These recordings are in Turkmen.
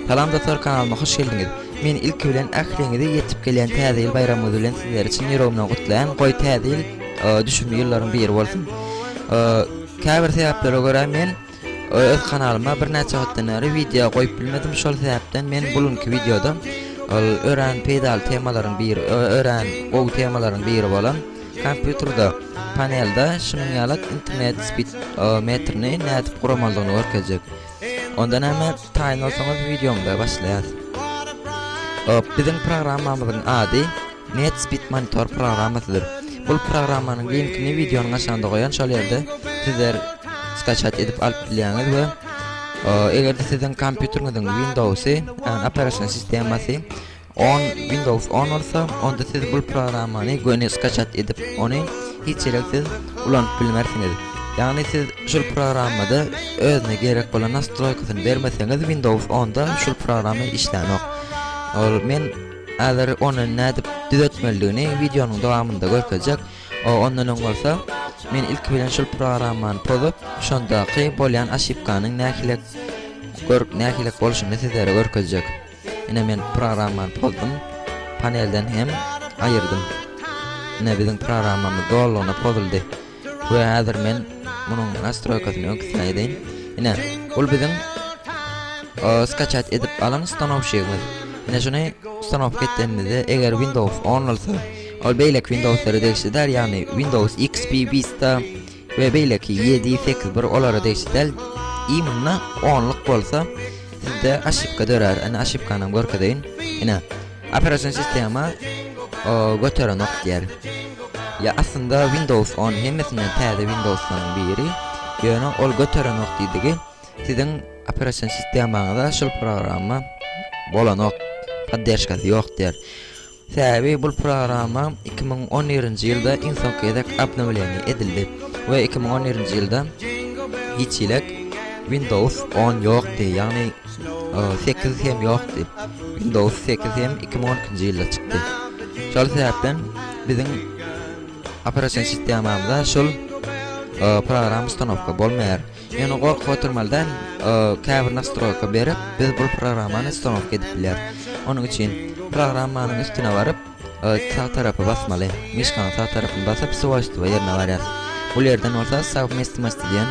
Salam dostlar kanalyma hoş geldiňiz. Men ilki bilen ähliňizi ýetip gelýän täze ýyl baýramyňyz bilen sizler üçin ýüregimden gutlaýan. Goý täze ýyl e, düşümli ýyllaryň biri bolsun. E, Käbir sebäplere görä men Öz kanalyma birnäçe wagtdan bäri wideo goýup bilmedim şol sebäpden men bu günki wideoda ol örän peýdaly temalaryň biri örän gowy temalaryň biri bolan kompýuterde panelde şunuň ýaly internet speed metrini nädip guramalydygyny görkezjek onda näme taýyn bolsaňyz wideomyza başlaýas biziň programmamyzyň ady Medspitmonitor programmasydyr. Bul programmanyň linkini wideonyň aşagynda goýan şol ýerde sizler skaçat edip alyp bilýäňiz we eger-de siziň kompýuteriňiziň Windowsy ýagny operasion sistemasy on Windows on bolsa onda siz bul programmany göni skaçat edip ony hiç ýerek siz ulanyp bilmersiňiz. Ýagny siz şul programmada özüne gerek bolan nastroýkasyny bermeseňiz Windows onda şul programma işlänok. Ol men Häzir ony nädip düzetmelidigini wideonyň dowamynda görkezjek. O ondan öň bolsa men ilki bilen şul programmany pozup, şondaky bolýan oşipkanyň nähili görk nähili bolşuny sizlere görkezjek. Ine men programmany pozdum. Panelden hem aýyrdym. Ine biziň programmamyz dolugyna pozuldy. We hazir men munuň nastroýkasyny öňkisine edeýin. Ine, bul biziň skaçat edip alan stanowşigimiz. Ine şuny stanowka etdenimizde, eger Windows 10 bolsa, ol beýleki Windowslara degişli däl, ýagny Windows XP Vista we beýleki 7, 8, 1 olara degişli däl. Imna 10 lyk bolsa, sizde aşypka dörär. Ine aşypkany görkezeýin. Ine, Operasion sistema göterenok diýer. Ýa aslynda Windows 10 hemmesinden täze Windowslaryň biri, ýöne ol göterenok diýdigi siziň operasion sistemaňyza şul programma bolanok, podderžkasy ýok diýer. Sebäbi bu programma 2011-nji ýylda iň soňky gezek obnowleniýe edildi we 2011-nji ýylda hiç hili Windows 10 ýokdy, ýagny sekiz hem ýokdy. Windows sekiz hem iki müň on ikinji ýylda çykdy. Şol sebäpden biziň operation sistemamyzda şol e, program ustanowka bolmaýar. Ýöne gorkup oturmaly däl, e, käbir nastroýka berip, biz bu programmany ustanowka edip bilýäris. Onuň üçin programmanyň üstüne baryp, e, sag tarapy basmaly. Myşkanyň sag tarapyny basyp, swojstwa ýerine barýarys. Bu ýerden bolsa savmestimost diýen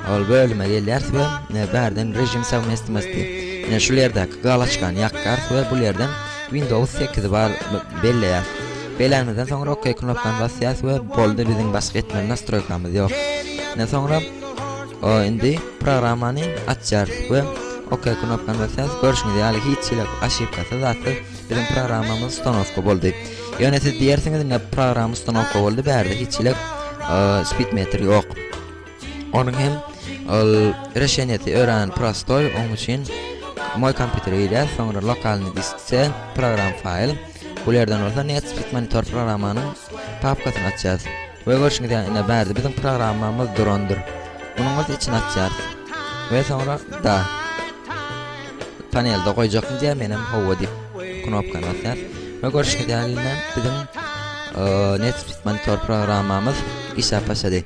Ol bölüme gelýäris we bärden režim sowmestnosti ine şul ýerdäki galaçkany ýakýarys we bul ýerden windows sekizi bar belleýäris belänimizden soňra ok knopkany basýarys we boldy biziň başga etmeli nastroýkamyz ýok ine soňra o indi programmany açýarys we ok knopkany basýarys görşüňiz ýaly hiç hili aşypkasy zatsyz biziň programmamyz stanowka boldy ýöne siz diýersiňiz ine programma stanowka boldy bärde hiç hili speed meter ýok Onuň hem ol reşenýeti örän prostoý, onuň üçin moý kompýutere girýär, soňra lokalnyý disk C program faýl, bul ýerden bolsa NetSpeed Monitor programmanyň papkasyny açýarys. We görşüňiz ýaly ine bärde biziň programmamyz durandyr. Munuň bolsa içini açýarys. We soňra da panelde goýjakmy diýýär, men hem howwa diýip knopkany basýar. We görşüňiz ýaly ine biziň NetSpeed Monitor programmamyz işläp başlady.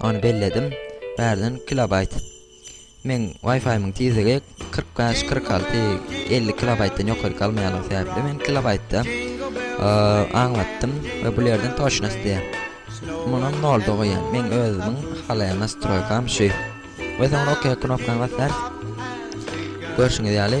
Ony belledim. Bärden kilobaýt. Meň Wi-Fi-myň tizligi kyrk bäş, kyrk alty, elli kilobaýtdan ýokary galmaýanlygy sebäpli men kilobaýtda aňlatdym we bul ýerden toçnost diýýär. Munyň nolda goýýan. Meň özümiň halaýan nastroýkam şu. We soňra OK knopkany basaýas. Görşüňiz ýaly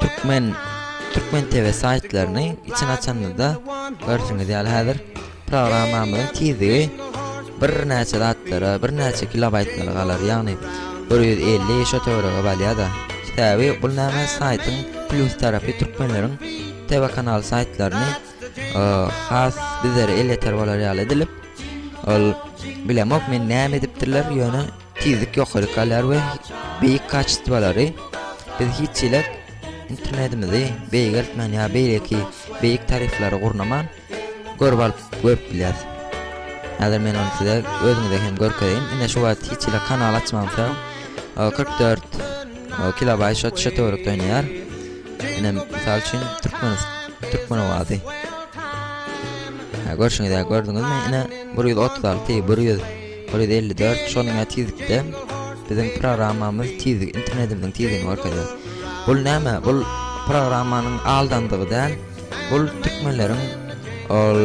Türkmen Türkmen TV saýtlaryny içini açanyňyzda görşüňiz ýaly häzir programmamyzyň tizligi birnäçe zatlara, birnäçe kilobaýtlara galar. Ýagny 150 şo töwerege balýar-da. Täbi bul näme saýtyň plus tarapy türkmenleriň TV kanal saýtlaryny e, has bizlere elýeter bolar ýaly edilip ol bilemok men näme edipdirler ýöne Tizlik ýokary kalýar we beýik kaçestwalary biz hiç hili internetimizi beýgeltmän ýa beýleki beýik tariflary gurnaman görüp alyp görüp bilýäs. Häzir men ony size özüňize hem görkezeýin. Ine şu wagt hiç hili kanal açmamsa 44 kilobaýt şo şu töwerekde oýnaýar. Ine mysal üçin türkmen türkmen owazy. Görşüňiz ýa gördüňizmi? Ine 136 100 Bir ýüz elli dört şonuň ýaly tizlikde biziň programmamyz tizligi internetimiziň tizligini görkezýär. Bul näme? Bul programmanyň aldandygy däl. Bul türkmenleriň ol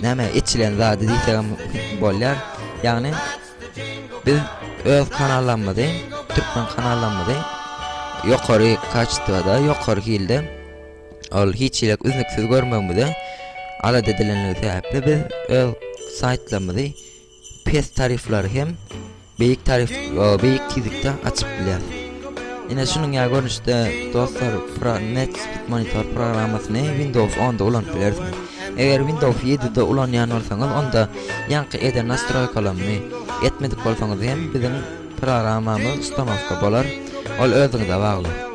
näme içilen zady diýsegem bolýar. Ýagny biz öz kanallarymyzy, türkmen kanallarymyzy ýokary kaçtwada, ýokary hilde ol hiç ýerek üznüksiz görmegimize alada edilenligi sebäpli biz öz saýtlarymyzy pes tarifleri hem beýik tarif beýik tizlikde açyp bilýär. Ine şunuň ýa görnüşde dostlar Pro Net Monitor programmasyny Windows 10-da ulanyp bilersiňiz. Eger Windows 7-de ulanýan bolsaňyz, onda ýaňky eden nastroýkalaryny etmedik bolsaňyz hem biziň programmamyzy ustanoka bolar. Ol özüňize bagly.